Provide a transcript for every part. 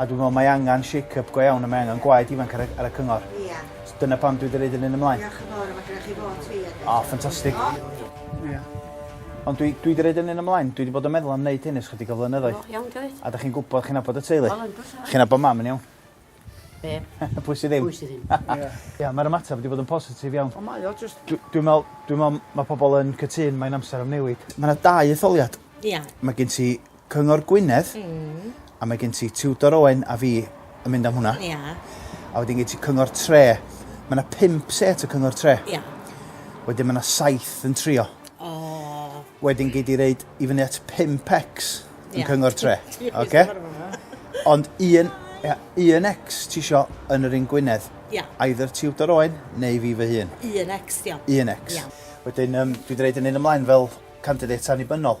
a dwi me'wl mae angan shake up go iawn a mae angan gwaed ifanc ar y ar y cyngor. Ia. So dyna pam dwi 'di roid yr hyn ymlaen. Diolch yn fowr a ma' gynnoch chi fot fi hefyd. O ffantastig. Diolch. Ia. Ond dwi dwi 'di roid yr hyn ymlaen dwi 'di bod yn meddwl am neud hyn ers chydig o flynyddoedd. O iawn grêt. A 'dych chi'n gwbod chi'n nabod y teulu. Wel yndw tad. Chi'n nabod mam yn iawn. Be? Pwy sy ddim? Pwy sy ddim. Ia. Ia ma'r ymateb 'di bod yn positif iawn. O mae o jyst... Dwi dwi me'wl dwi me'wl ma' pobol yn cytun mae'n amser am newid. Ma' 'na dau etholiad. Ia. Ma' gen ti Cyngor Gwynedd. Hmm. A mae gen ti Tudor Owen a fi yn mynd am hwnna. Ia. A wedyn gen ti Cyngor Tre. Mae yna pimp set o Cyngor Tre. Ia. Wedyn mae yna saith yn trio. O. Wedyn gei di reid i fyny at 5x yn Cyngor Tre. Oce? Ond un, ia, un X ti isio yn yr un Gwynedd. Ia. Either Tudor Owen neu fi fy hun. Un X, diolch. Un X. Ia. Wedyn, um, dwi wedi reid yn un ymlaen fel candidate annibynnol.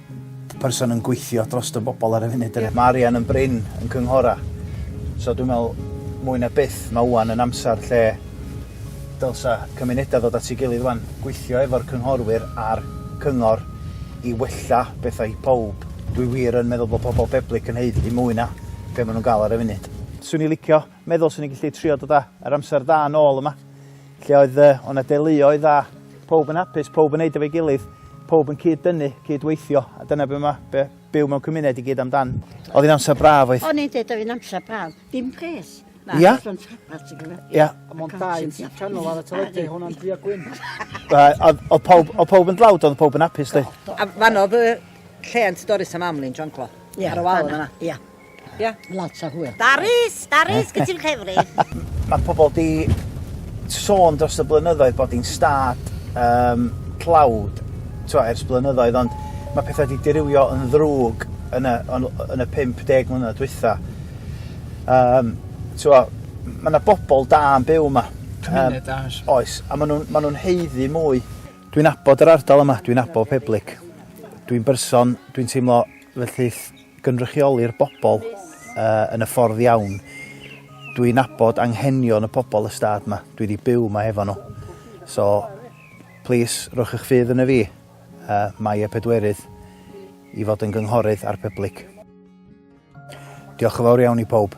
person yn gweithio dros y bobl ar y funud. Yeah. Mae arian yn brin yn cynghora. So dwi'n meddwl, mwy na byth, mae wwan yn amser lle dylsa cymunedau ddod at ei gilydd wwan, gweithio efo'r cynghorwyr a'r cyngor i wella bethau i pob. Dwi wir yn meddwl bod pobl Peblig yn heud i mwy na be maen nhw'n gael ar y funud. Swn i licio meddwl swn i'n gallu trio dod â yr amser da yn ôl yma, lle oedd uh, o'na deuluoedd a pob yn hapus, pob yn neud efo'i gilydd, pob yn cyd dynnu, cyd weithio, a dyna be mae be, byw mewn cymuned i gyd amdan. Oedd hi'n amser braf oedd? O'n i'n dweud oedd hi'n amser braf, dim pres. Ia? Ia. Mae'n dau canol ar y teledu, hwnna'n dri a gwyn. Oedd pawb, o pawb yn dlawd, oedd pawb yn hapus, di? A fan oedd y lle yn Doris am amlin, John Clo? Ia. Ar y wal yna? Ia. Ie. Lot o hwyl. Darris! Darris, gyd ti'n ffefryn? Mae pobl di sôn dros y blynyddoedd bod hi'n stad um, tlawd twa, ers blynyddoedd, ond mae pethau wedi dirywio yn ddrwg yn y, yn y 50 mlynedd dwytha. Um, twa, mae yna bobl da yn byw yma. Cymuned um, da. Oes, a maen nhw'n ma nhw heiddi mwy. Dwi'n abod yr ardal yma, dwi'n abod Peblig. Dwi'n berson, dwi'n teimlo felly gynrychioli'r bobl uh, yn y ffordd iawn. Dwi'n nabod anghenion y pobl y stad yma. Dwi wedi byw yma efo nhw. So, plis, rhowch eich ffydd yn y fi, uh, mae y pedwerydd, i fod yn gynghorydd ar pyblyg. Diolch yn fawr iawn i pob.